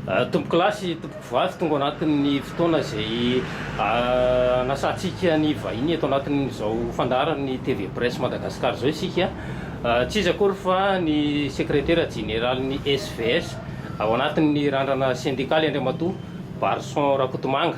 Tompokolahy sy tompokovavy tonga ao anatin'ny fotoana izay anasantsika ny vahiny eto anatin'izao fandaharan'ny TV Presse Madagascar izao isika. Tsy iza akory fa ny sekretera jeneralin'ny SVS ao anatin'ny randrana sendikaly Andriamatoa Barison Rakotomanga.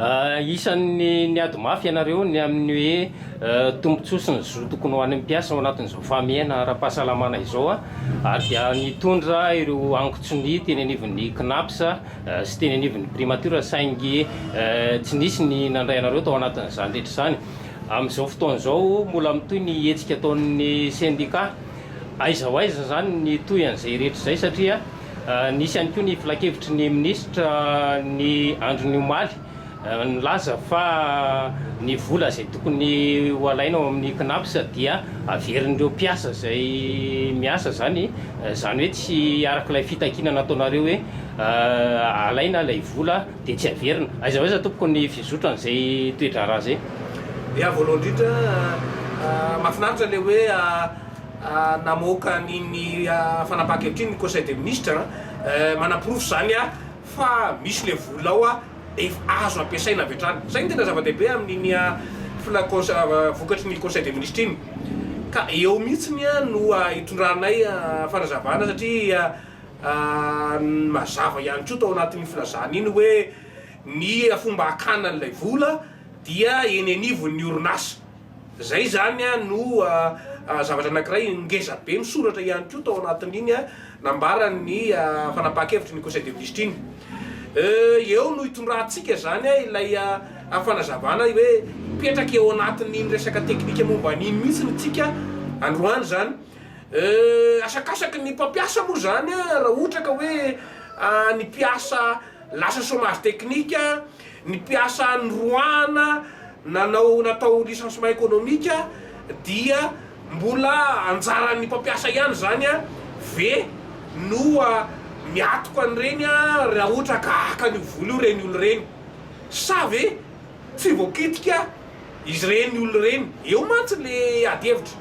Isan'ny niady mafy ianareo ny amin'ny hoe tombontsoa sy ny zo tokony ho an'ny mpiasa ao anatin'izao fahamehana ara-pahasalamana izao ary dia nitondra ireo angon-tsonia teny anivon'ny Cnaps sy teny anivon'ny Primature saingy tsy nisy ny nandray anareo tao anatin'izany rehetra izany. Amin'izao fotoana izao mbola mitohy ny hetsika ataon'ny sendikà. Aiza ho aiza izany ny tohy an'izay rehetra izay satria. Nisy ihany koa ny filankevitry ny minisitra ny andron'ny omaly, nilaza fa ny vola izay tokony ho alaina ao amin'ny Cnaps dia averin'ireo mpiasa izay miasa izany, izany hoe tsy araka ilay fitakiana nataonareo hoe alaina ilay vola dia tsy averina. Aiza ho aiza tompoko ny fizotran'izay toe-draharaha izay? Ya, voalohany indrindra mahafinaritra ilay hoe. Namoaka an'iny fanapahan-kevitra iny ny Conseil des Ministres manaporofo izany fa misy ilay vola ao efa azo ampiasaina avy hatrany. Izay no tena zava-dehibe amin'iny vokatry ny Conseil des Ministres iny. Ka eo mihitsy no hitondranay fanazavana satria mazava ihany koa tao anatin'iny filazana iny hoe ny fomba hakana an'ilay vola dia eny anivon'ny orinasa. Izay izany no zavatra anankiray ngeza be misoratra ihany koa tao anatin'iny nambaran'ny fanapahan-kevitry ny Conseil des ministres iny. Eo no itondrantsika izany ilay fanazavana hoe mipetraka eo anatin'iny resaka teknika momba an'iny mihitsy ny tsika androany izany. Asakasaky ny mpampiasa moa izany raha ohatra ka hoe ny mpiasa lasa chomage technique. Ny mpiasa noroahana nanao natao licencement ekonomika dia mbola anjaran'ny mpampiasa ihany izany ve no miatoka an'ireny raha ohatra ka haka an'io vola io ireny olona ireny? Sa ve tsy voakitika ireny olona ireny? Eo mantsy ilay adihevitra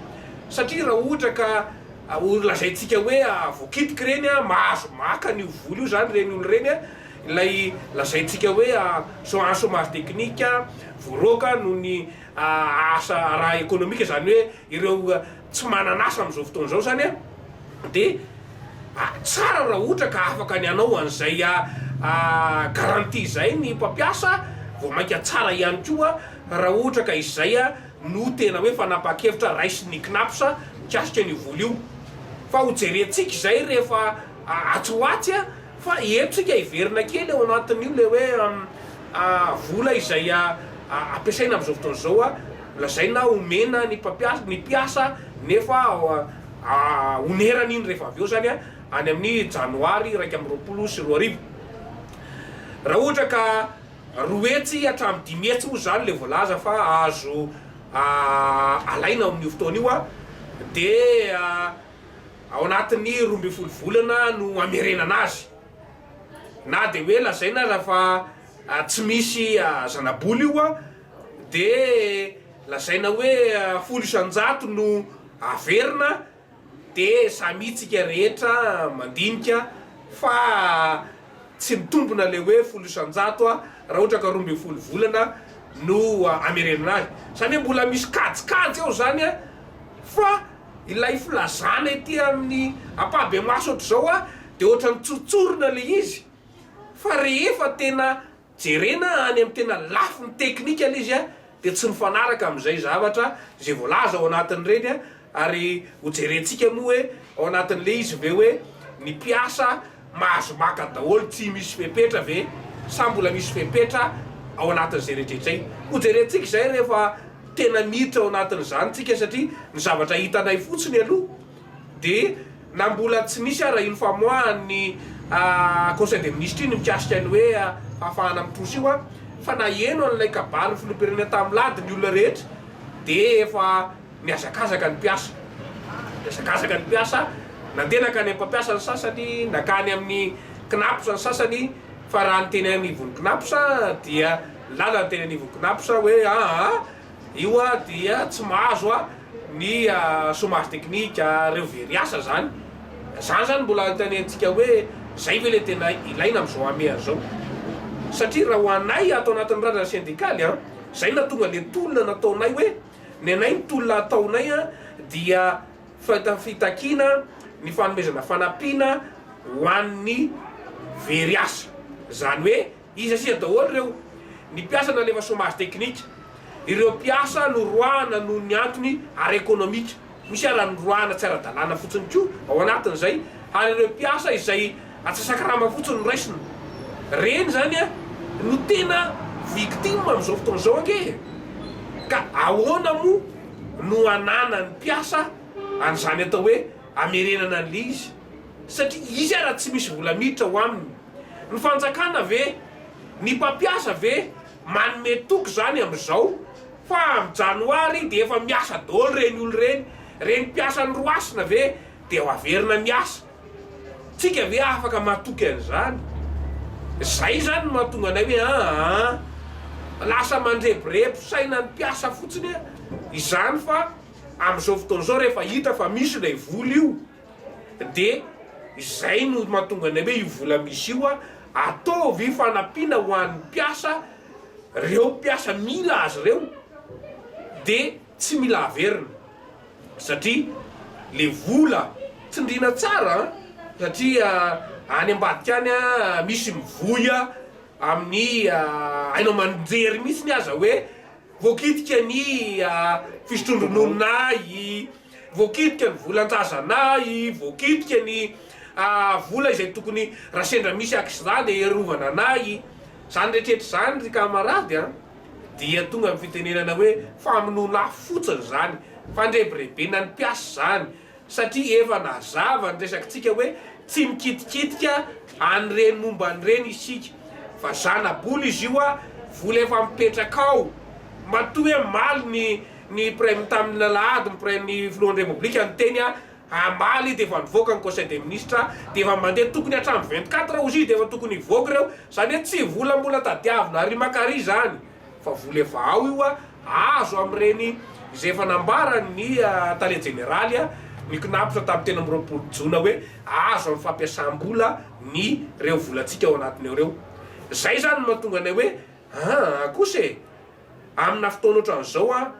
satria raha ohatra ka lazaintsika hoe voakitika ireny mahazo maka an'io vola io izany ireny olona ireny Ilay lazaintsika hoe chôage chômage technique voaroaka noho ny asa ara ekonomika izany hoe ireo tsy manana asa amin'izao fotoana izao izany dia tsara raha ohatra ka afaka ny hanao an'izay garantie izay ny mpampiasa vao mainka tsara ihany koa raha ohatra ka izay no tena hoe fanapahan-kevitra raisin'ny Cnaps mikasika an'io vola io fa ho jerentsika izay rehefa Atsy ho atsy a, fa eto tsika hiverina kely ao anatin'io le hoe vola izay ampiasaina amin'izao fotoana izao a, lazaina omena ny mpampiasa, ny mpiasa nefa onerana iny rehefa avy eo zany a, any amin'ny janoary iraika amby roapolo sy roa arivo. Raha ohatra ka roa hetsy hatramin'ny dimy hetsy moa zany le voalaza fa azo alaina ao amin'io fotoana io a, de ao anatin'ny roa ambin'ny folo volana no hamerenana azy. Na dia hoe lazaina aza fa tsy misy zanabola io dia lazaina hoe folo isan-jato no haverina dia samy hitsika rehetra mandinika fa tsy mitombina ilay hoe folo isan-jato raha ohatra ka roa ambin'ny folo volana no hamerenana azy. Izany hoe mbola misy kajikajy ao izany fa Ilay filazana ety amin'ny ampahibemaso ohatr'izao a, dia ohatran'ny tsotsorina ilay izy, fa rehefa tena jerena any amin'ny tena lafiny teknika ilay izy a, dia tsy mifanaraka amin'izay zavatra izay voalaza ao anatin'ireny a, ary hojerentsika moa hoe ao anatin'ilay izy ve hoe ny mpiasa Mahazo maka daholo tsy misy fepetra ve sa mbola misy fepetra ao anatin'izay rehetra izay? Ho jerentsika izay rehefa tena miditra ao anatin'izany tsika satria ny zavatra hitanay fotsiny aloha dia na mbola tsy nisy ara iny famoahan'ny conseil des ministres iny mikasika ny hoe fahafahana mitrosa io fa naheno an'ilay kabary ny filoham-pirenena tamin'ny lady ny olona rehetra dia efa Nihazakazaka ny mpiasa. Nihazakazaka ny mpiasa. Nandeha nankany amin'ny mpampiasa ny sasany, nankany amin'ny Cnaps ny sasany, fa raha ny teny anivon'ny Cnaps dia nilàlana ny teny anivon'ny Cnaps hoe aa io dia tsy mahazo ny chomage technique ireo very asa izany. Izany izany mbola itaneantsika hoe izay ve ilay tena ilaina amin'izao hameha izao. Satria raha ho anay ato anatin'ny randrana sendikaly, izay no nahatonga ilay tolona nataonay hoe. Ny anay ny tolona ataonay dia fitakiana ny fanomezana fanampiana ho an'ny very asa. Izany hoe iza sy iza daholo ireo? Ny mpiasa nalefa chômage technique, ireo mpiasa noroahana noho ny antony ara-ekonomika. Misy alanondroahana tsy ara-dalàna fotsiny koa ao anatin'izay ary ireo mpiasa izay atsasakarama fotsiny no raisina. Ireny izany no tena victime amin'izao fotoana izao ange e! Ka ahoana moa no ananan'ny mpiasa an'izany atao hoe amerenana an'ilay izy satria izy ara tsy misy vola miditra ao aminy? Ny fanjakana ve? Ny mpampiasa ve manome toky izany amin'izao? Fa am janoary de efa miasa dôly reny olo reny, reny mpiasan roasina ve de ho averina miasa? Tsika ve afaka matoky an'izany? Zay zany no mahatonga anay hoe aa lasa mandrebirebo saina ny mpiasa fotsiny izany fa amzao fotoana zao refa hita fa misy ilay vola io Dia izay no mahatonga ny hoe io vola misy io ataovy fanampiana ho an'ny mpiasa, ireo mpiasa mila azy ireo dia tsy mila averina satria ilay vola tsindriana tsara satria any ambadika any misy mivoy amin'ny haino aman-jery mihitsy aza hoe voakitika ny fisotroan-dronono ahy. Voakitika ny volan-trazanà i voakitika ny vola izay tokony raha sendra misy accident dia hiarovana anà i Izany rehetrretra izany ry camarade a dia tonga amin'ny fitenenana hoe famonoanà fotsiny izany, fandrebirebena ny mpiasa izany satria efa nazava ny resakintsika hoe tsy mikitikitika an'ireny momba an'ireny isika fa zana-bola izy io a, vola efa mipetraka ao. Matoa hoe maly ny Ny Praim tamin' ny alahady ny Praim ny Filohan' ny Repoblika niteny a hamaly dia efa nivoaka ny Conseil des Ministres dia efa mandeha tokony hatramin'ny vingt quatre ozy dia efa tokony hivoaka ireo izany hoe tsy vola mbola tadiavina ary maka ary izany fa vola efa ao io a azo amin' ireny izay efa nambaran' ny Tale Jeneraly a ny Cnaps tamin'ny telo amby roapolo jona hoe azo amin' ny fampiasam-bola ny ireo volantsika ao anatiny ao ireo izay izany no mahatonga anay hoe aa kosa e! Amina fotoana ohatran'izao an,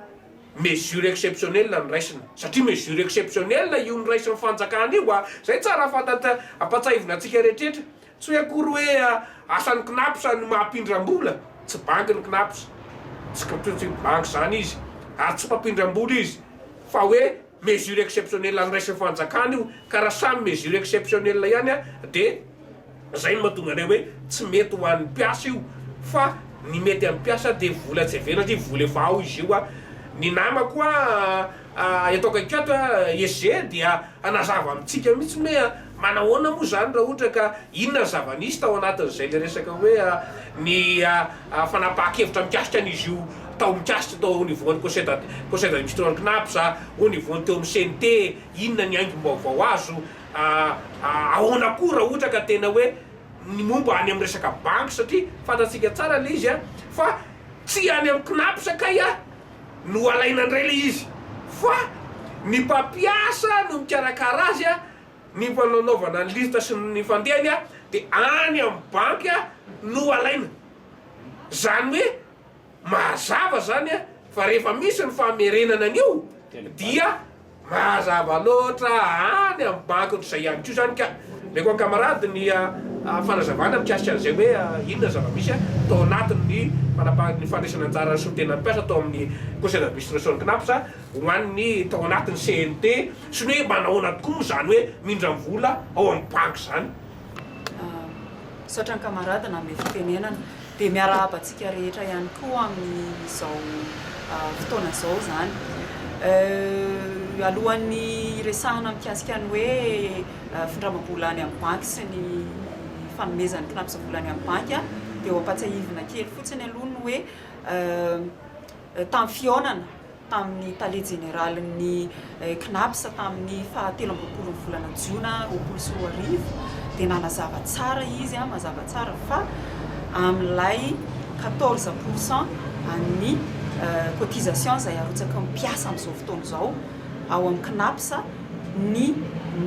mesure exceptionnelle no raisina, satria mesure exceptionnelle io noraisin'ny fanjakana io an, zay tsara fantatra, ampatsahivina antsika rehetrretra, tsy hoe akory hoe asan'ny cnaps ny mampindram-bola, tsy banky ny cnaps, tsy banky zany izy, ary tsy mpampindram-bola izy, fa hoe. Mesure exceptionnelle andraisin'ny fanjakana io ka raha samy mesure exceptionnelle ihany dia izay no mahatonga anay hoe tsy mety ho an'ny mpiasa io fa ny mety amin'ny mpiasa dia vola tsy averina satria vola efa ao izy io, ny namako eto akaiky ato SG dia hanazava amintsika mihitsy hoe. Manahoana moa izany raha ohatra ka inona ny zava-nisy tao anatin'izay ilay resaka hoe ny fanapahan-kevitra mikasika an'izy io tao mikasika tao au niveau an'ny Conseil d'ad, Conseil d'administration Cnaps, au niveau ny teo amin'ny CNT, inona ny haingom-baovao azo, ahoana koa raha ohatra ka tena hoe ny momba any amin'ny resaka banky satria fantatsika tsara ilay izy fa tsy any amin'ny Cnaps kay no alaina indray ilay izy fa ny mpampiasa no mikarakara azy Ny fananaovana ny lisitra sy ny fandehany dia any amin'ny banky no alaina. Izany hoe mazava izany fa rehefa misy ny famerenana an'io dia mazava loatra any amin'ny banky izay ihany koa izany ka. Omeko an-kamarady ny fanazavana mikasika an'izay hoe inona ny zava-misy tao anatin'ny fanapahan-, ny fandraisana anjaran'ny solontenan'ny mpiasa tao amin'ny Conseil d'administration-n'ny Cnaps. ho an'ny tao anatin'ny CNT sy ny hoe manahoana tokoa moa izany hoe mindra vola ao amin'ny banky izany. Misaotra ny kamarady nanome fitenenana. Dia miarahaba antsika rehetra ihany koa amin'izao fotoana izao izany. Alohan'ny hiresahana mikasika ny hoe findramam-bola any amin'ny banky sy ny fanomezan'ny mpinamsa vola any amin'ny banky dia ho ampatsiahivina kely fotsiny aloha ny hoe tamin'ny fihaonana tamin'ny tale jeneralin'ny Cnaps tamin'ny faha telo amby roapolon'ny volana jona roapolo sy roa arivo dia nanazava tsara izy mazava tsara fa amin'ilay quatorze pour cent an'ny cotisation izay arotsaky ny mpiasa amin'izao fotoana izao ao amin'ny Cnaps ny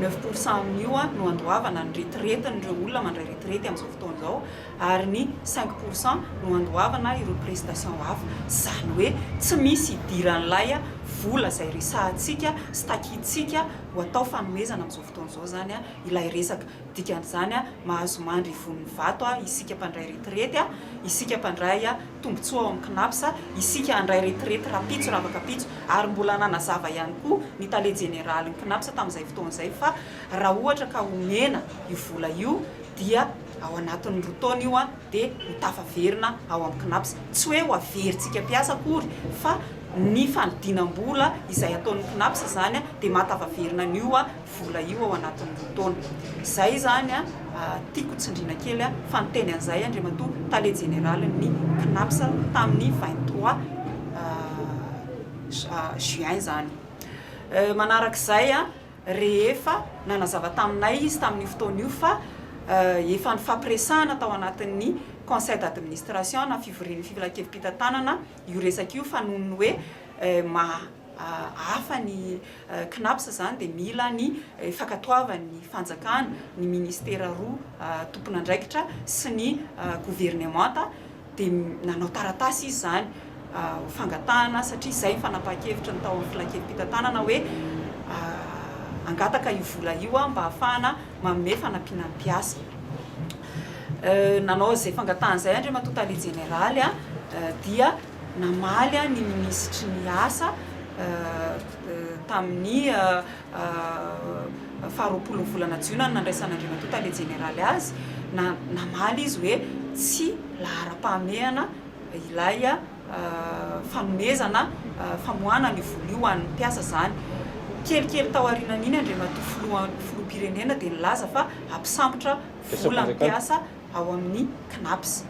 neuf pour cent amin'io no andoavana ny retiretin'ireo olona mandray retirety amin'izao fotoana izao ary ny cinq pour cent no andoavana ireo prestations hafa, izany hoe tsy misy idiran'ilay vola izay resahantsika sy takintsika ho atao fanomezana amin'izao fotoana izao izany ilay resaka. Dikan'izany, mahazo mandry ivon'ny vato isika mpandray retirety, isika mpandray tombontsoa ao amin'ny Cnaps, isika handray retirety rahampitso raha afaka ampitso, ary mbola nanazava ihany koa ny tale jeneralin'ny Cnaps tamin'izay fotoana izay fa raha ohatra ka omena io vola io, dia ao anatin'ny roa taona io dia ho tafaverina ao amin'ny Cnaps. Tsy hoe ho averintsika mpiasa akory fa ny fanodinam-bola izay ataon'ny Cnaps izany dia maha tafaverina an'io vola io ao anatin'ny roa taona. Izay izany tiako tsindriana kely fa niteny an'izay Andriamatoa Tale Jeneralin'ny Cnaps tamin'ny vingt trois juin izany. Manarak'izay. rehefa nanazava taminay izy tamin'io fotoana io fa efa nifampiresahana tao anatin'ny Conseil d'administration na fivorian'ny filankevi-pitantanana io resaka io fa noho ny hoe mahahafa ny Cnaps izany dia mila ny fankatoavan'ny fanjakana, ny ministera roa tompon'andraikitra sy ny governemanta. dia nanao taratasy izy izany ho fangatahana satria izay ny fanapahan-kevitra ny tao amin'ny filankevi-pitantanana hoe hangataka io vola io aho mba hahafahana manome fanampiana ny mpiasa. Nanao izay fangatahana izay Andriamatoa Tale Jeneraly dia namaly ny Minisitry ny Asa tamin'ny faharoapolo ny volana jiona no nandraisan'Andriamatoa Tale Jeneraly azy, namaly izy hoe tsy laharam-pahamehana ilay fanomezana famoahana an'io vola io ho an'ny mpiasa izany. Kelikely tao aorianan'iny Andriamatoa Filoham-pirenena dia nilaza fa hampisambotra vola ny mpiasa. ao amin'ny Cnaps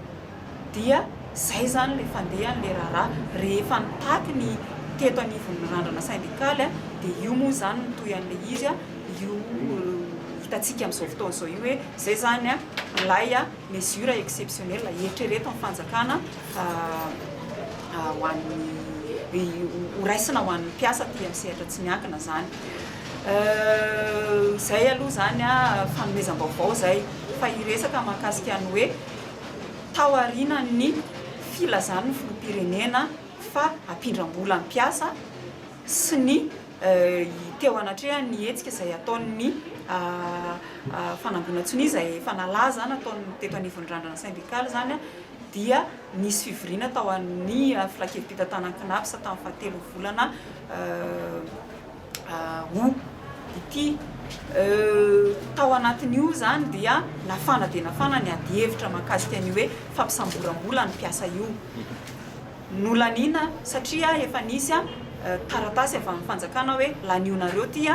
dia zay zany le fandehany le raharaha rehefa nitaky ny teto anivon'ny randrana sendikaly a dia io moa zany no toy an'le izy a io hitantsika amin'izao fotoana izao io hoe zay zany a ilay a mesure exceptionnel eritrereto ny fanjakana ho an'ny ho raisina ho an'ny mpiasa aty amin'ny sehatra tsy miankina zany Euh zay aloha zany fanomezam-baovao izay fa hiresaka mahakasika ny hoe tao aorianan'ny filazan'ny filoham-pirenena fa hampindram-bola ny mpiasa sy ny teo anatrehan'ny hetsika izay ataon'ny fanangonan-tsonia izay efa nalaza nataon'ny teto anivon'ny randrana sendikaly izany dia nisy fivoriana tao amin'ny filankevi-pitantanan'ny CNAPS tamin'ny faha telovolana Aho. Ity. Tao anatin'io izany dia nafana dia nafana ny adihevitra mahakasika an'io hoe fampisamboram-bola ny mpiasa io. Nolaniana satria efa nisy taratasy avy amin'ny fanjakana hoe lanionareo ity,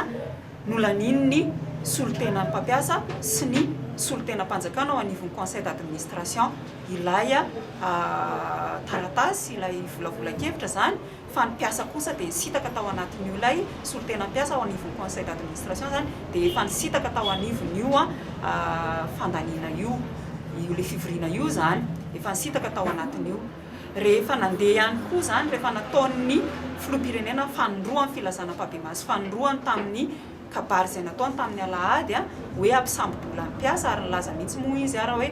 nolanian'ny solontenan'ny mpampiasa sy ny solontenam-panjakana ao anivon'ny conseil d'administration ilay taratasy, ilay volavolan-kevitra izany fa ny mpiasa kosa dia nisitaka tao anatin'io ilay solontena mpiasa ao anivon'ny conseil d'administration izany dia efa nisitaka tao anivon'io fandaniana io io ilay fivoriana io izany efa nisitaka tao anatin'io rehefa nandeha ihany koa izany rehefa nataon'ny filoham-pirenena fanindroany filazana ampabemaso fanindroany tamin'ny kabary izay nataony tamin'ny alahady a hoe hampisambo-bola ny mpiasa ary nilaza mihitsy moa izy ara hoe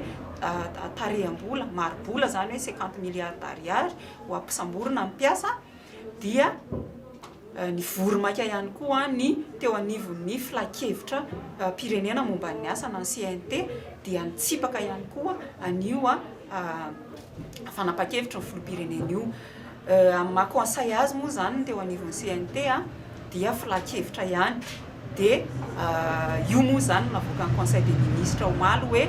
tareham-bola mari-bola izany hoe cinquante milliards d'ariary ho ampisamborina ny mpiasa dia nivory maika ihany koa ny teo anivon'ny filankevitra mpirenena momba ny asa na ny CNT dia nitsipaka ihany koa anio fanapan-kevitry ny filoham-pirenena io. Amin'ny maha conseil azy moa izany ny teo anivon'ny CNT. dia filankevitra ihany dia io moa izany no navoakan'ny conseil des ministres omaly hoe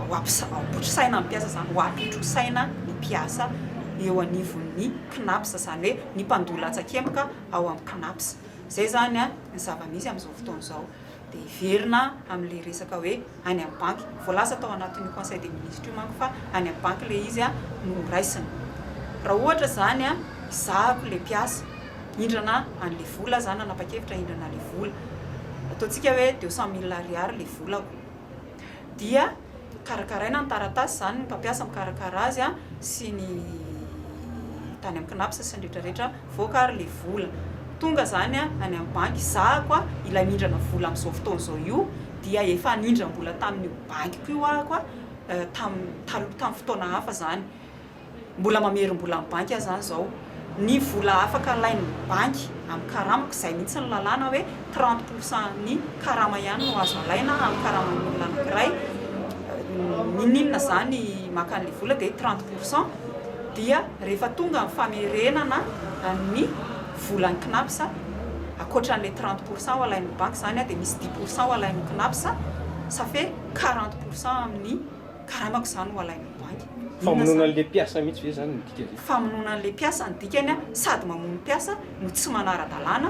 hotrosaina ny mpiasa izany ho apitrosaina ny mpiasa eo anivon'ny cnaps izany hoe ny mpandoa latsakemboka ao amin'ny cnaps izay izany ny zava-misy amin'izao fotoana izao Dia hiverina amin'ilay resaka hoe any amin'ny banky. Voalaza tao anatin'io conseil des ministres io manko fa any amin'ny banky ilay izy no ho raisina. Raha ohatra izany, ezahako ilay mpiasa hindrana an'ilay vola, za nanapa-kevitra hindrana ilay vola, ataontsika hoe deux cent mille ariary ilay volako, dia. Karakaraina ny taratasy, izany ny mpampiasa mikarakara azy sy ny tany amin'ny CNAPS sy ny rehetra rehetra, mivoaka ary ilay vola tonga izany any amin'ny banky, hizahako ilay mindrana vola amin'izao fotoana izao io dia efa nindram-bola tamin'io bankiko io aho, tamin'ny taloha tamin'ny fotoana hafa izany. Mbola mamerim-bola amin'ny banky aza aho izao. Ny vola afaka alain'ny banky amin'ny karamako, izay mihitsy ny lalàna hoe trente pour cent ny karama ihany no azo alaina amin'ny karaman'ny olona anankiray, n'inon'inona izany maka an'ilay vola dia trente pour cent, dia rehefa tonga ny famerenana ny volan'ny Cnaps, ankoatran'ilay trente pour cent ho alain'ny banky izany dia misy dix pour cent ho alain'ny Cnaps, ça fait quarante pour cent amin'ny karamako izany ho alain'ny banky. Famonoana an'ilay mpiasa mihitsy ve izany no dikany e? Famonoana an'ilay mpiasa no dikany a, sady mamono mpiasa no tsy manara-dalàna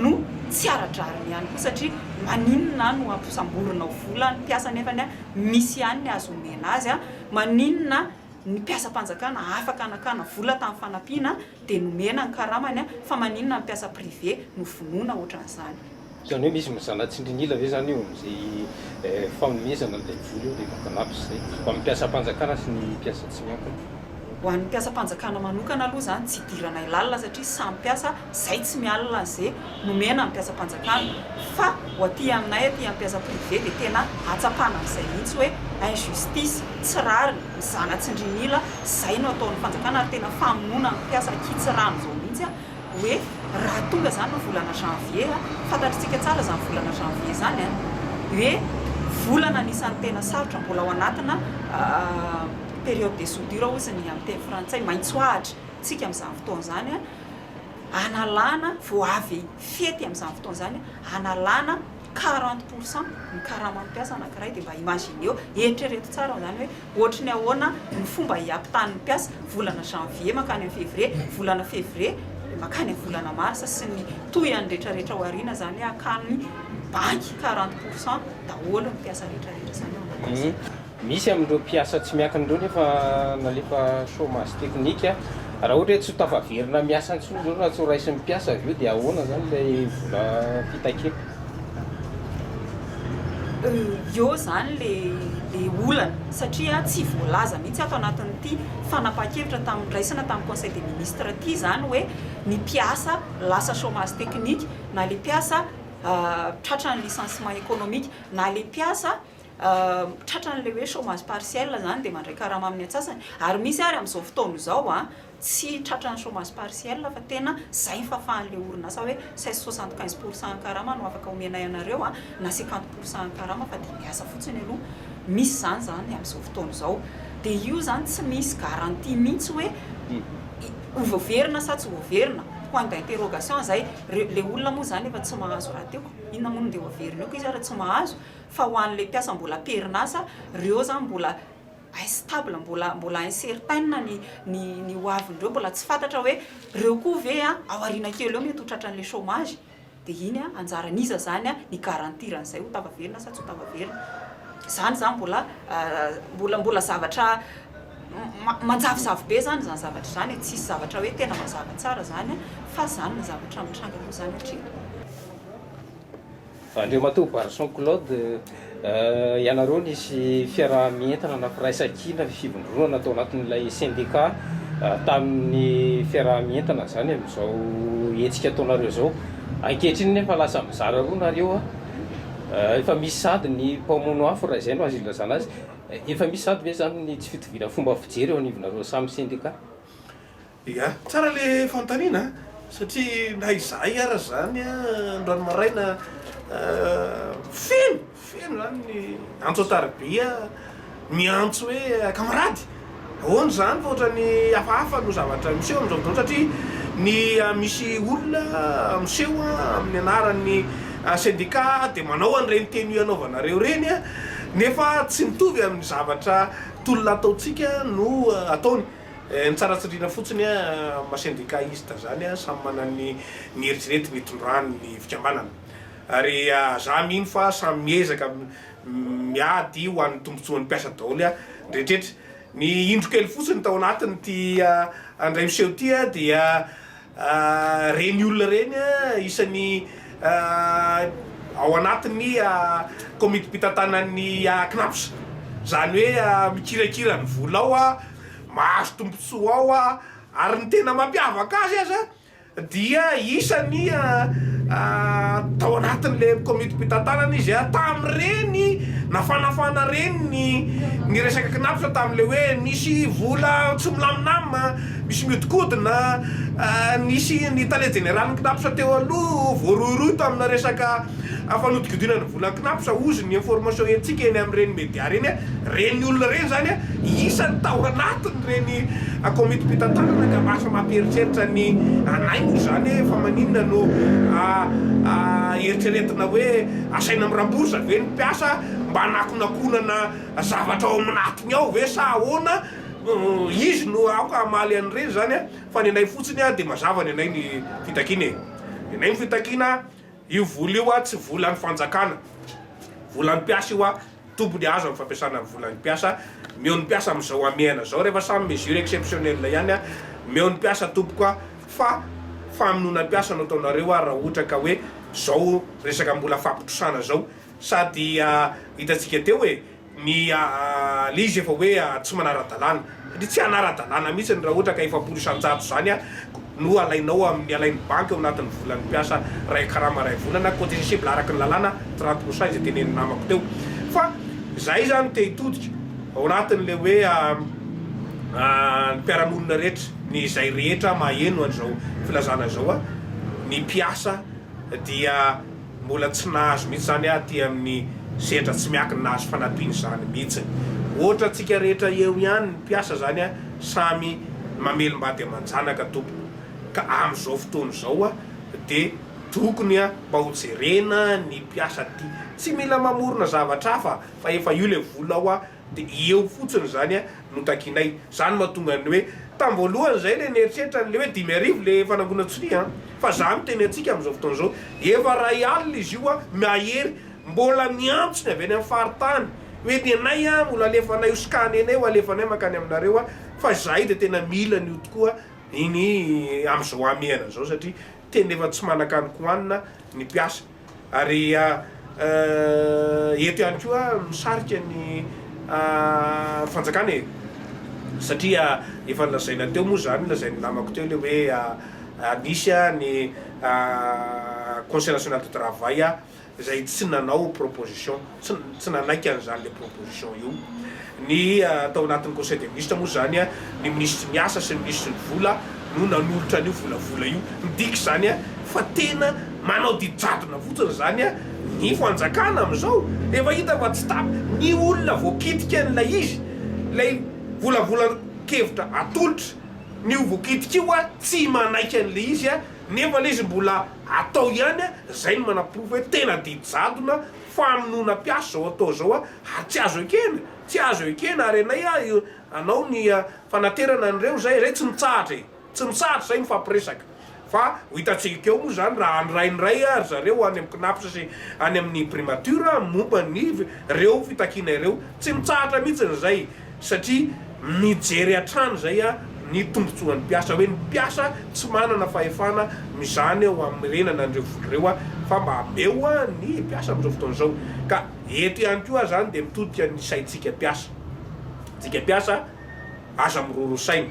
no tsy ara-drariny ihany koa satria maninona no hampisamborinao vola ny mpiasa nefany a misy ihany ny azo omena azy a, maninona ny mpiasam-panjakana afaka nakana vola tamin'ny fanampiana dia nomena ny karamany a fa maninona ny mpiasa privé no vonoina ohatran'izany. Izany hoe misy mizana tsindrin'ila ve izany eo amin'izay fanomezana an'ilay vola eo dia mampanampy izay ho an'ny mpiasam-panjakana sy ny mpiasa tsy miankina? Ho an'ny mpiasam-panjakana manokana aloha izany tsy idiranay lalina satria samy mpiasa, izay tsy mialona an'izay nomena ny mpiasam-panjakana fa ho aty aminay aty amin'ny mpiasa privé dia tena ahatsapana an'izay mihitsy hoe injustice, tsy rariny, mizana tsindrin'ila, izay no ataon'ny fanjakana ary tena famonoana ny mpiasa ankitsy rano izao mihitsy. hoe raha tonga zany ny volana janvier a, fantatritsika tsara zany volana janvier zany a, hoe volana anisan'ny tena sarotra mbola ao anatina période de soudure hoy izy ny amin'ny teny frantsay, maitsoahatra tsika amin'izany fotoana izany a, analana vao avy fety amin'izany fotoana izany analana quarante pour cent ny karaman'ny mpiasa anankiray dia mba imagineo, eritrereto tsara izany hoe Ohatry ny ahoana ny fomba hiampitahan'ny mpiasa volana janvier mankany amin'ny février, volana février mankany amin'ny volana mars sy ny tohiny retraretra ao aoriana izany hoe hakan'ny banky quarante pour cent daholo ny mpiasa retraretra izany ao anatin'ny izany. Misy amin'ireo mpiasa tsy miankina ireo nefa nalefa chômage technique. Raha ohatra hoe tsy ho tafaverina miasa intsony izao raha tsy ho raisin'ny mpiasa avy eo dia ahoana izany ilay vola fitakina? Eo izany ilay olana satria tsy voalaza mihitsy ato anatin'ity fanapahan-kevitra tamin'ny niraisana tamin'ny Conseil des ministres ity izany hoe ny mpiasa lasa chômage technique na ilay mpiasa tratra ny licenciement économique na ilay mpiasa tratra an'ilay hoe chômage partiel izany dia mandray karama amin'ny antsasany ary misy ary amin'izao fotoana izao an! Tsy tratran'ny chômage partiel fa tena izay ny fahafahan'ilay orinasa hoe cesse soixante quinze pour cent karama no afaka omenay anareo a, na cinquante pour cent karama fa dia miasa fotsiny aloha. Misy izany izany amin'izao fotoana izao. Dia io izany tsy misy garantie mihitsy hoe ho voaverina sa tsy ho voaverina. Point d'interrogation izay. Ilay olona moa izany efa tsy mahazo raha teo. Inona moa no ndeha ho averina eo koa izy ary tsy mahazo. Fa ho an'ilay mpiasa mbola am-perinasa, ireo izany mbola. instable mbola mbola incertaine ny ny ny ho avindreo mbola tsy fantatra hoe reo koa ve a ao aoriana kely eo mety ho tratran'le chomage de iny a anjaran'iza zany a ny garantir an'izay ho tava velona sa tsy ho tava velona zany zany mbola mbola mbola zavatra manjavozavo be zany zany zavatra zany e tsisy zavatra hoe tena mazava tsara zany a fa zany ny zavatra mitranga aloha zany hatreto. Andriamatoa Barson Claude, ianareo nisy fiaraha-mientana na firaisan-kina fivondronana tao anatin'ilay sendika tamin'ny fiaraha-mientana izany amin'izao hetsika ataonareo izao. Ankehitriny anefa lasa mizara roa nareo, efa misy sady ny mpamono afo raha izay no azo ilazana azy, efa misy sady ve izany ny tsy fitoviana fomba fijery eo anivonareo samy sendika? Ia? Tsara le fanontaniana a! Satria na izahay ara zany a, androany maraina feno, feno zany ny antso an-tariby a, miantso hoe kamarady, ahoana zany fa ohatrany hafahafa no zavatra miseho amin'izao fotoana satria ny misy olona miseho a, amin'ny anaran'ny sendika de manao an'ireny tenue anaovanareo ireny a, nefa tsy mitovy amin'ny zavatra tolona ataontsika no ataony. Eh ny tsara tsindrina fotsiny a ma syndicaliste zany a samy manana ny ny eritreretiny itondrany ny fikambanana ary za mino fa samy miezaka miady ho an'ny tombotsoan'ny mpiasa daoly a ndreitretra ny indro kely fotsiny tao anatiny ty a ndray miseho ty a dia Ireny olona ireny isan'ny ao anatin'ny Komitim-pitantanan'ny Cnaps. Izany hoe mikirakira ny vola ao, mahazo tombontsoa ao ary ny tena mampiavaka azy aza dia isan'ny tao anatin'ilay Komitim-pitantanana izy tamin'ireny nafanafana ireny ny resaka Cnaps tamin'ilay hoe misy vola tsy milamina aminy. Misy mihodinkodina, nisy ny tale jeneralin'ny Cnaps teo aloha voarohirohy tamina resaka fanodikodinana ny volan'ny Cnaps, hozy ny information entsika eny amin'ireny media ireny, ireny olona ireny izany isany tao anatin'ireny komitim-pitantanana ka lasa mampieritreritra ny anay moa izany hoe fa maninona no eritreretina hoe asaina miramborsa ve ny mpiasa mba hanakonakonana zavatra ao amin'atiny ao ve sa ahoana? Izy no aoka hamaly an'ireny izany an! Fa ny anay fotsiny an, dia mazava ny anay ny fitakiana e! Ny anay ny fitakiana, io vola io an, tsy volan'ny fanjakana, volan'ny mpiasa io an, tompony hahazo amin'ny fampiasana ny volan'ny mpiasa, meo ny mpiasa amin'izao hamehana izao rehefa samy mesure exceptionnelle ihany an, meo ny mpiasa tompoko an, fa famonoana mpiasa no ataonareo an, raha ohatra ka hoe izao resaka mbola fampitosana izao, sady hitantsika teo e! Ny le izy efa hoe tsy manara-dalàna, satria tsy hanara-dalàna mihitsy raha ohatra ka efapolo isan-jato izany no alainao amin'ny, alain'ny banky ao anatin'ny volan'ny mpiasa iray karama iray volana, contestable araka ny lalàna, trente pour cent izay tenenin'ny namako teo. Fa izahay izany te hitodika ao anatin'ilay hoe ny mpiara-monina rehetra, ny izay rehetra maheno an'izao filazana izao, ny mpiasa dia. Mbola tsy nahazo mihitsy izany aho aty amin'ny sehatra tsy miankina nahazo fanampiana izany mihitsy. Ohatra antsika rehetra eo ihany ny mpiasa izany samy mamelim-bady aman-janaka tompoko ka amin'izao fotoana izao dia tokony mba ho jerena ny mpiasa aty. Tsy mila mamorona zavatra hafa fa efa io ilay vola ao. Dia eo fotsiny izany no takianay. Izany no mahatonga ny hoe, tamin'ny voalohany izahay ilay nieritreritra an'ilay hoe dimy arivo ilay fanangonan-tsonia an! Fa izaho miteny antsika amin'izao fotoana izao, efa iray alina izy io mahery, mbola miantso ny avy any amin'ny faritany hoe ny anay an, mbola alefanay ho scan anay, ho alefanay mankany aminareo an! Fa izahay dia tena mila an'io tokoa iny amin'izao hamehana izao satria tena efa tsy manan-kanin-kohanina ny mpiasa. Ary eto ihany koa misarika ny fanjakana e! satria efa nolazaina teo moa izany, lazain'ny namako teo ilay hoe nisy ny conseil national du travail izay tsy nanao proposition. tsy nanaiky an'izany ilay proposition io ny tao anatin'ny conseil des ministres moa izany ny minisitry ny asa sy ny minisitry ny vola no nanolotra an'io volavola io. Midika izany fa tena manao didy jadona fotsiny izany ny fanjakana amin'izao. Efa hita fa tsy tapaka ny olona voakitika an'ilay izy, ilay volavolan-kevitra atolotra ny ho voakitika io tsy manaiky an'ilay izy nefa ilay izy mbola atao ihany izay no manaporofo hoe tena didy jadona. Famonoana mpiasa zao atao zao a ary tsy azo ekena, tsy azo ekena ary anay a io anao ny fanaterana an'ireo izay izay tsy mitsahatra e, tsy mitsahatra izay mifampiresaka fa ho hitantsika eo moa izany raha handray ny ray ry zareo any amin'ny Cnaps sy any amin'ny primature momba ny ireo fitakiana ireo, tsy mitsahatra mihitsy izay. satria mijery hatrany izay ny tombontsoan'ny mpiasa hoe ny mpiasa tsy manana fahefana mizana eo hamerenana an'ireo vola ireo fa mba ameo ny mpiasa amin'izao fotoana izao ka eto ihany koa izany dia mitodika ny saintsika mpiasa tsika mpiasa aza miroro saina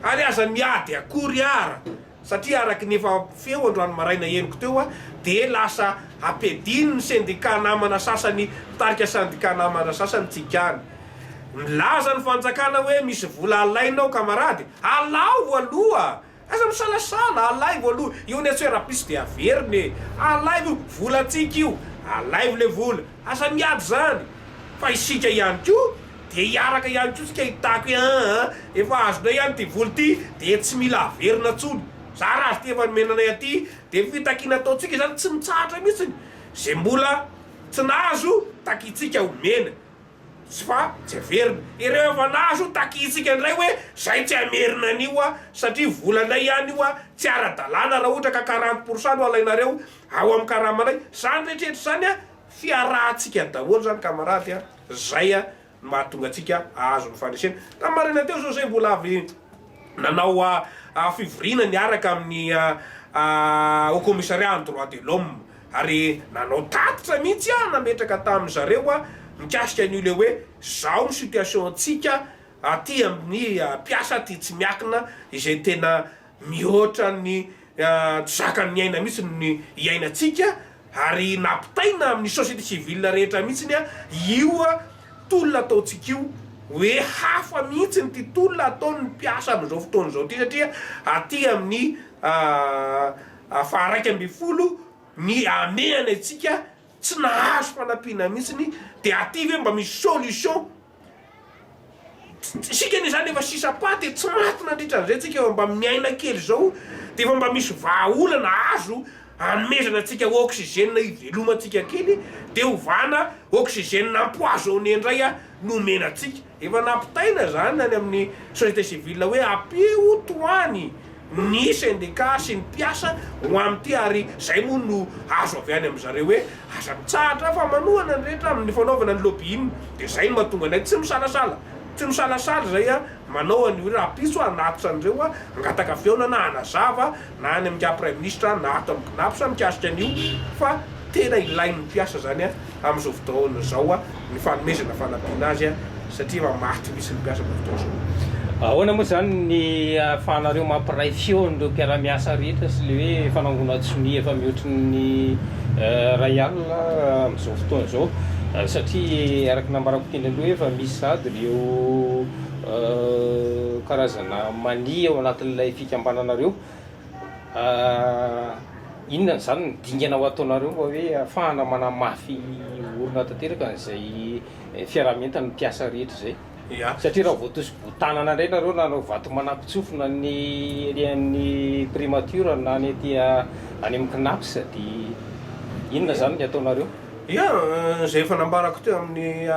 ary aza miady akory ara satria araka ny efa feo androany maraina henoko teo a dia lasa ampiadin ny sendika namana sasany mpitarika sendika namana sasany tsy ikany milaza ny fanjakana hoe misy vola alainao kamarady alao aloha aza misalasala alaivo aloha io ny atsoe rapiso dia averina e alaivo io volantsika io alaivo le vola aza miady zany fa isika ihany koa Dia hiaraka ihany koa isika hitako hoe an an, efa azonay ihany ity vola ity dia tsy mila averina intsony. Za raha ity efa nomena anay aty dia fitakiana ataontsika izany tsy mitsahatra mihitsiny. Izay mbola tsy nahazo takintsika omena tsy fa tsy averina. Ireo efa nahazo takintsika indray hoe zay tsy hamerina an'io an, satria volanay ihany io an, tsy ara-dalàna raha ohatra ka quarante pour cent no alainareo ao amin'ny karamanay. Izany rehetra rehetra izany an, fiarahantsika daholo izany kamarady an. Zay no mahatonga antsika ahazo ny fandresena. Tamin'ny maraina teo izao zay mbola avy nanao fivoriana niaraka amin'ny Haut Commissariat an'ny Droits de l'Homme ary nanao tatitra mihitsy aho nametraka tamin'ny zareo mikasika an'io le hoe zao ny situation-tsika aty amin'ny mpiasa aty tsy miakina izay tena Mihoatra ny tsy zakan'ny aina mihitsy ny iainantsika ary nampitaina amin'ny société civile rehetra mihitsy io tolona ataontsika io hoe hafa mihitsy ity tolona ataon'ny mpiasa amin'izao fotoana izao ity satria aty amin'ny faha iraika ambin'ny folo ny hamehana antsika tsy nahazo fanampiana mihitsy dia aty ve mba misy solution Isika anie izany efa sisa paty e, tsy maty nandritra an'izay tsika fa mba miaina kely izao dia efa mba misy vahaolana azo anomezana antsika oxygène hivelomantsika kely dia ovana oxygène empoisonné indray no omena antsika. Efa nampitaina izany any amin'ny société civile hoe ampio tohany ny sendika sy ny mpiasa ho amin'ity ary izay moa no azo avy any amin'i zareo hoe aza mitsahatra fa manohana ny rehetra amin'ny fanaovana ny lobbying dia izay no mahatonga anay tsy misalasala tsy misalasala izay a manao an'io hoe rahampitso aho hanatitra an'ireo a hangataka fihaonana hanazava na any amin'ingahy praiminisitra na ato amin'ny cnaps mikasika an'io fa tena ilain'ny mpiasa izany a amin'izao fotoana izao ny fanomezana fanampiana azy satria efa maty mihitsy ny mpiasa amin'izao fotoana izao. Ahoana moa izany ny ahafahanareo mampiray feo an'ireo mpiara-miasa rehetra sy ilay hoe fanangonan-tsonia efa mihoatry ny iray alina amin'izao fotoana izao satria araka ny nambarako teny aloha efa misy sahady ireo karazana mania ao anatin'ilay fikambananareo? Ah, inona ny zany ny dingana ho ataonareo mba hoe afahana manamafy orina tanteraka an'izay fiaraha-mientana ny mpiasa rehetra izay? Satria raha voatosi-botanana indray nareo nanao vato manako-tsofina ny ery amin'ny primature na ny aty any amin'ny Cnaps dia inona zany ny ataonareo? Ia, izay efa nambarako teo amin'ny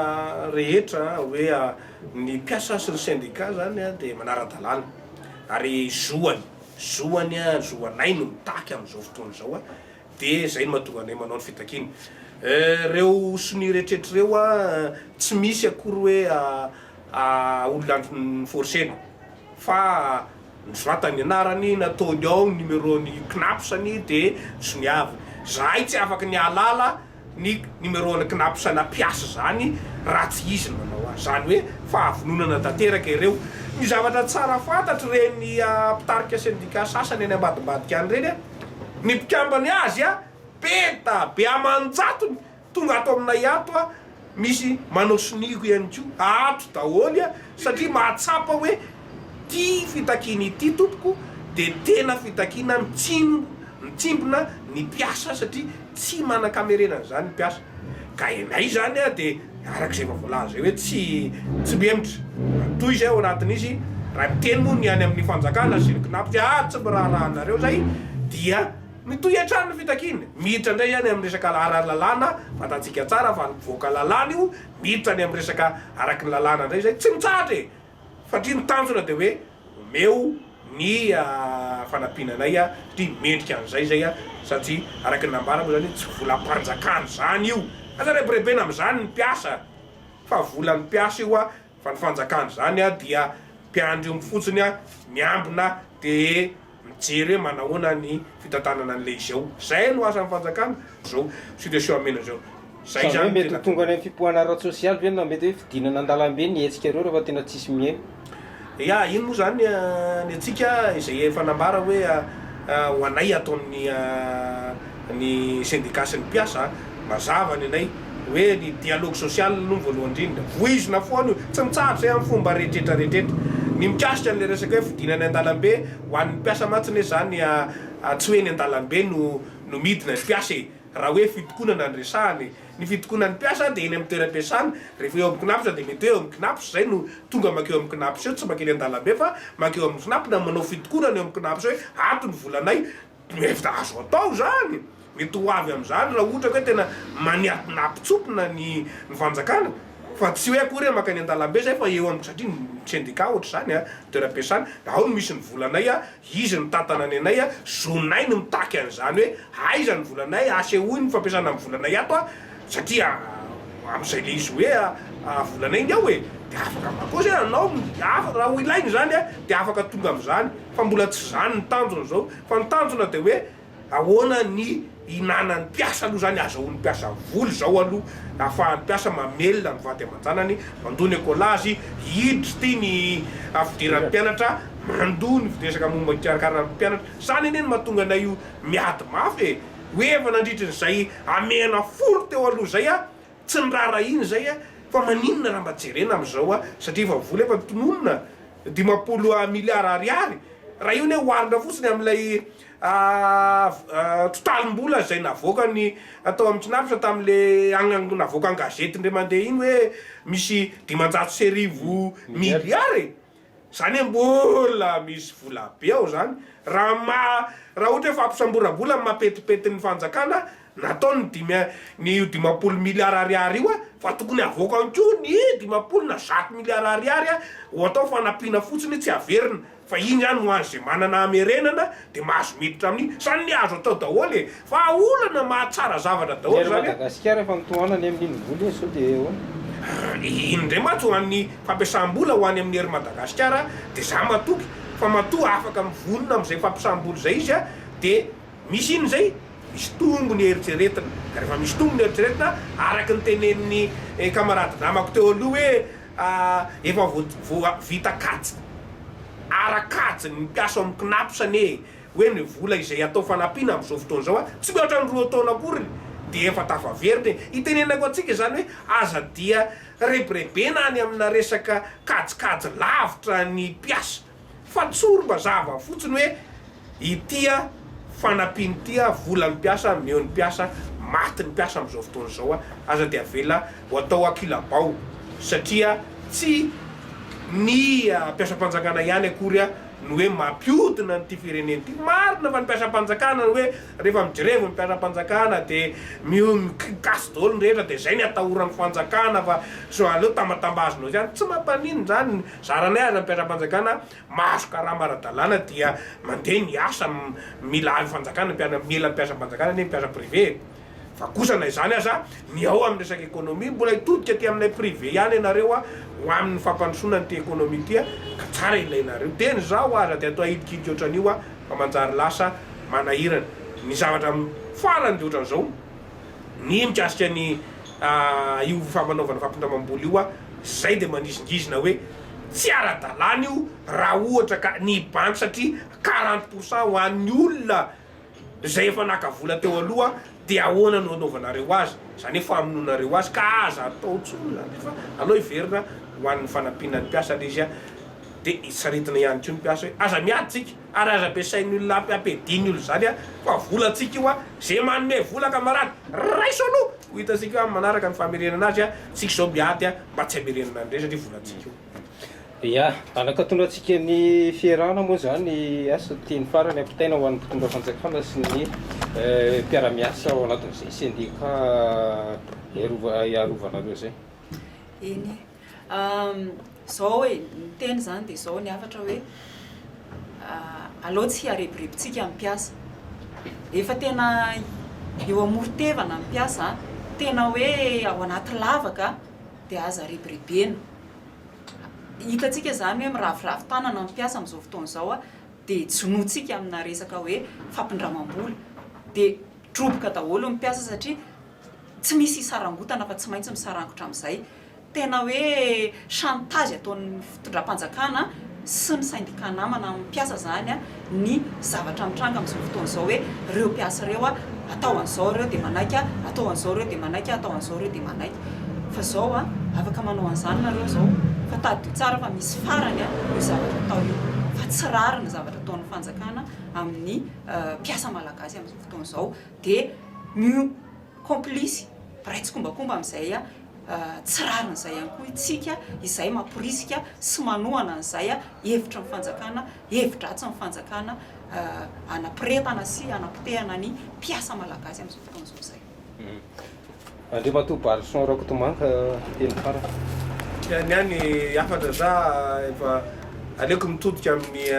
rehetra hoe ny mpiasa sy ny syndicat zany dia manara-dalàna. Ary zoany, zoany, zoanay no mitaky amin'izao fotoana izao dia izay no mahatonga anay manao ny fitakiana. Ireo sonia eretrretra ireo tsy misy akory hoe olona ni-forcer-na fa nosoratany ny anarany, nataony ao ny numéro-ny, CNAPS-ny dia soniaviny. Izahay tsy afaka ny hahalala ny numéro an'i Cnaps hanapiasa izany raha tsy izy no nanao azy. Izany hoe fahavononana tanteraka ireo. Ny zavatra tsara fantatr'ireny mpitarika sendika sasany any ambadimbadika any ireny, ny mpikambana azy be da be aman-jatony tonga ato aminay ato, Misy manao sonia koa ihany koa, ato daholo a, satria mahatsapa hoe ity fitakiana ity tompoko dia tena fitakiana mitsimbo, mitsimbina ny mpiasa satria tsy manan-kamerenana izany ny mpiasa. Ka ianay izany a dia araka izay efa voalaza izay hoe tsy tsy mihemotra. Toy izay ao anatin'izy, raha miteny moa ny any amin'ny fanjakana sy ny Cnaps hoe ah tsy miraharaha anareo izay dia. Mitohy hatrany ny fitakiany. Miditra indray any amin'ny resaka ara-lalàna, fantatsika tsara fa ny mpivoaka lalàna io miditra any amin'ny resaka araky ny lalàna indray izay tsy mitsahatra e! Satria ny tanjona dia hoe omeo ny fanampiana anay satria mendrika an'izay izay satria araky ny nambara moa izany tsy volam-panjakana izany io. Aza rebirebena amin'izany ny mpiasa fa volan'ny mpiasa io. Fa ny fanjakana izany dia mpiandry omby fotsiny miambina dia mijery hoe manahoana ny fitantanana an'ilay izy ao. Izay no asan'ny fanjakana, izao situation omena izao. Izay izany no tena. Sa ve mety ho tonga any amin'ny fipoahana ara-tsosialy ve na mety hoe fidinana an-dalambe ny hetsikareo rehefa tena tsisy mihaino? Ya, iny moa izany ny antsika izay efa nambara hoe ho anay ataon'ny. ny sendika sy ny mpiasa a! mazava ny anay hoe ny dialogue social aloha ny voalohany indrindra, voizina foana io, tsy mitsahatra izay amin'ny fomba rehetrretra rehetrretra, ny mikasika an'ilay resaka hoe fidina any an-dalambe, ho an'ny mpiasa mantsy anie izany tsy hoe eny an-dalambe no no midina ny mpiasa e! raha hoe fitokonana no resahana e! ny fitokonan'ny mpiasa dia eny amin'ny toeram-piasana, rehefa eo amin'ny Cnaps dia mety hoe eo amin'ny Cnaps izay no tonga mankeo amin'ny Cnaps eo, tsy mankeny an-dalambe fa mankeo amin'ny Cnaps na manao fitokonana eo amin'ny Cnaps hoe ato ny volanay, Torohevitra azo atao izany, mety ho avy amin'izany raha ohatra ka hoe tena maniatina hampitsopona ny ny fanjakana, fa tsy hoe akory hoe mankany an-dalambe izay fa eo amin'ny, satria ny sendika ohatra izany an, toeram-piasana, dia ao no misy ny volanay an, izy no mitantana ny anay an, zonay ny mitaky an'izany hoe aiza ny volanay, asehoy ny fampiasana ny volanay ato an, satria amin'izay le izy hoe volana iny ao e de afaka mba koa zay anao afaka raha ho ilaina izany a de afaka tonga amin'izany fa mbola tsy zany ny tanjona zao fa ny tanjona de hoe ahoana ny hinanan'ny mpiasa aloha zany azahoan'ny mpiasa vola zao aloha ahafahan'ny mpiasa mamelona ny vady aman-janany mandoa ny ekolazy hiditry ty ny fidiran'ny mpianatra mandoa ny resaka momba ny fikarakaran'ny mpianatra zany anie no mahatonga anay miady mafy e. Ho eva nandritra izay hamehana folo teo aloha izay aho, tsy niraharahiana izay aho fa maninona raha mba jerena amin'izao aho satria efa vola efa tononina dimampolo miliara ariary, raha io anie oharina fotsiny amin'ilay totalim-bola izay navoakany tao amin'ny Cnaps tamin'ilay navoaka an-gazety indray mandeha iny hoe misy dimanjato sy arivo miliara e! Zany hoe mbola misy vola be ao zany raha maha raha ohatra hoe fampisamboram-bola amin'ny maha petipetin'ny fanjakana natao ny dimy ny io dimampolo milliards ariary io fa tokony havoakany koa ny dimampolo na zato milliards ariary ho atao fanampiana fotsiny tsy haverina fa iny ihany ho an'izay manana hamerenana de mahazo miditra amin'ny zany le azo atao daholo e fa olana mahatsara zavatra daholo zany e. Ery Madagasikara efa mitohana any amin'iny vola iny sao de ahoana? Iny indray mantsy ho an'ny fampiasam-bola ho any amin'ny ery Madagasikara de za matoky fa matoa afaka mivonona amin'izay fampiasam-bola izay izy de misy iny izay misy tombony eritreretina, rehefa misy tombony eritreretina araka ny tenenin'ny kamarady namako teo aloha hoe Efa voavita kajy ara kajy ny mpiasa ao amin'ny Cnaps anie e! Hoe ny vola izay atao fanampiana amin'izao fotoana izao an, tsy mihoatra ny roa taona akory dia efa tafaverina e! Itenenako antsika izany hoe aza dia rebirebena any amina resaka kajikajy lavitra ny mpiasa. Fa tsory mazava fotsiny hoe ity a fanampiana ity a volan'ny mpiasa meo ny mpiasa maty ny mpiasa amin'izao fotoana izao a aza dia avela ho atao ankilabao satria tsy ny mpiasam-panjakana ihany akory a no hoe mampiodina an'ity firenena ity marina fa ny mpiasam-panjakana no hoe rehefa mijerevy ny mpiasam-panjakana dia mikasy daholo ny rehetra dia izay ny atahoran'ny fanjakana fa sao aleo tambatambazinao ihany tsy mampaninona izany Zaranay ary mpiara-panjakana mahazo karama ara-dalàna dia mandeha ny asa mila ahy fanjakana mpiara mila mpiasam-panjakana anie mpiasa privé e! Fa kosa na izany aza ny ao amin'ny resaka ekonomia mbola hitodika aty aminay privé ihany ianareo a! ho amin'ny fampandrosoana an'ity ekonomia ity a! ka tsara ilainareo dia ny zaho aza dia toa hidikidika ohatran'io a! fa manjary lasa manahirana ny zavatra farany dia ohatran'izao. ny mikasika ny io fampanaovana fampindramam-bola io aho, izay dia manizingizina hoe tsy ara-dalàna io raha ohatra ka ny banky satria quarante pour cent ho an'ny olona izay efa naka vola teo aloha dia ahoana no anaovanareo azy, izany hoe famonoanareo azy ka aza atao intsony izany izy fa aleo hiverina ho an'ny fanampiana ny mpiasa ilay izy dia saritina ihany koa ny mpiasa hoe aza miady tsika. Ary aza ampiasain'ny olona ampiadiany olona izany a! Fa volantsika io a! Ze manome vola kamarady, raiso aloha! Ho hitantsika amin'ny manaraka ny famerenana azy a! Tsika izao miady a! Mba tsy hamerenana an'ireny satria volantsika io. Ia! Anakatonantsika ny fierahana moa izany as ho tiany farany ampitaina ho an'ny mpitondra fanjakana sy ny mpiara-miasa ao anatin'izay sendika hiarovana anareo izay. Eny e! Zao e, ny teny zany dia zao ny hafatra hoe aleo tsy hiarebirebintsika ny mpiasa. Efa tena eo amoron-tevana ny mpiasa, tena hoe ao anaty lavaka dia aza rebirebena. Hitantsika zany hoe miraviravy tanana ny mpiasa amin'izao fotoana izao dia jonointsika amina resaka hoe fampindramam-bola. Dia droboka daholo ny mpiasa satria tsy misy hisarangotana fa tsy maintsy misarangotra amin'izay. Tena hoe chantage ataon'ny fitondram-panjakana sy ny syndicat namana amin'ny mpiasa izany ny zavatra mitranga amin'izao fotoana izao hoe ireo mpiasa ireo atao an'izao ireo dia manaiky, atao an'izao ireo dia manaiky, atao an'izao ireo dia manaiky. Fa izao afaka manao an'izany nareo izao fa tadidio tsara fa misy farany io zavatra atao io fa tsy rariny ny zavatra ataon'ny fanjakana amin'ny mpiasa malagasy amin'izao fotoana izao dia ny complice, mpiray tsikombakomba amin'izay tsy rariny izay ihany koa isika, izay mamporisika sy manohana an'izay hevitry ny fanjakana, hevi-dratsin'ny fanjakana hanapiretana sy hanapotehana ny mpiasa malagasy amin'izao fotoana izao izay. Andriamatoa Barison Rakotomanga, teny farany. Ny ahy ny hafatra za efa aleoko mitodika amin'ny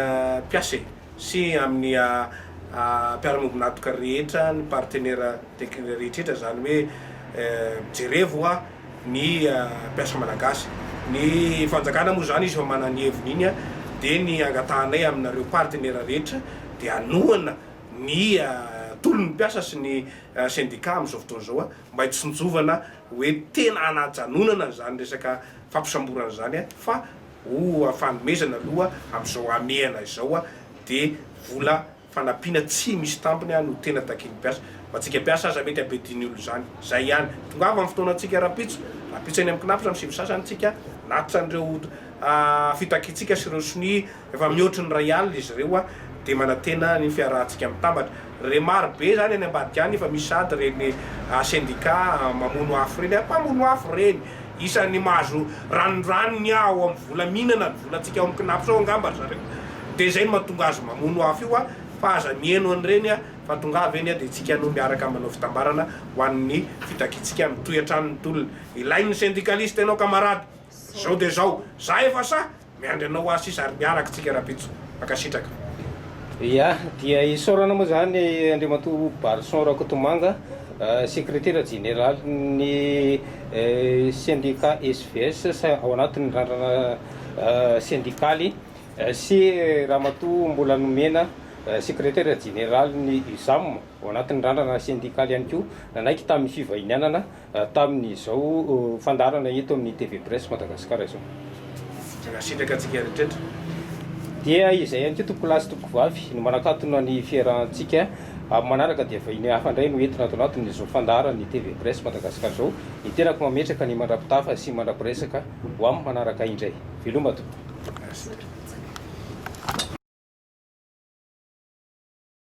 mpiasa e! sy amin'ny mpiara-miombon'antoka rehetra, ny partenera teknika rehetrretra, izany hoe jerevo hoa ny mpiasa malagasy. Ny fanjakana moa izany izy efa manana ny heviny iny dia ny angatahanay aminareo partenera rehetra dia hanohana ny tolon'ny mpiasa sy ny sendika amin'izao fotoana izao mba hitsinjovana hoe tena hanajanonana izany resaka fampisamborana izany fa ho fanomezana aloha amin'izao hamehana izao dia vola fanampiana tsy misy tampony no tena takian'ny mpiasa. Ho antsika mpiasa aza mety habedin'ny olona izany. Izay ihany. Tongava ny fotoanantsika rahampitso. Rahampitso eny amin'ny Cnaps amin'ny sivy sasany isika. Natitra an'ireo fitakiantsika sy ireo sonia efa mihoatry ny iray alina izy ireo dia manantena ny fiarahantsika mitambatra. Re maro be zany any ambadika any efa misy sady reny sendika mamono afo reny, mpamono afo reny, isan'ny mahazo ranondranony ao amin'ny vola mihinana ny volantsika ao amin'ny Cnaps ao angamba ry zareo, dia zay no mahatonga azy mamono afo io fa aza mihaino an'ireny fa tongava eny dia tsika no miaraka manao fitambarana ho an'ny fitakiantsika mitohy hatrany ny tolona, ilain'ny sendikalisita ianao kamarady, zao dia zao, za efa sahy. Miandry anao hoa sisa ary miaraka tsika rapitso. Mankasitraka. Ya dia isaorana moa zany Andriamatoa Barison Rakotomanga Sekretera Jeneraly ny Sendika SVS ao anatin'ny Randrana Sendikaly sy Ramatoa Mbola Nomena Sekretera Jeneraly ny USAM ao anatin'ny Randrana Sendikaly ihany koa nanaiky tamin'ny fivahinianana tamin'izao fandaharana eto amin'ny TV Presse Madagasikara izao. Sitraka antsika rehetra. Dia izay ihany koa tompokolahy sy tompokovavy no manakatona ny fiarahantsika amin'ny manaraka dia vahiny hafa indray no entina ato anatin'izao fandaharan'ny TV Presse Madagasikara izao. Ny tenako mametraka ny mandra-pitafa sy mandra-piresaka ho amin'ny manaraka indray. Veloma tompoko.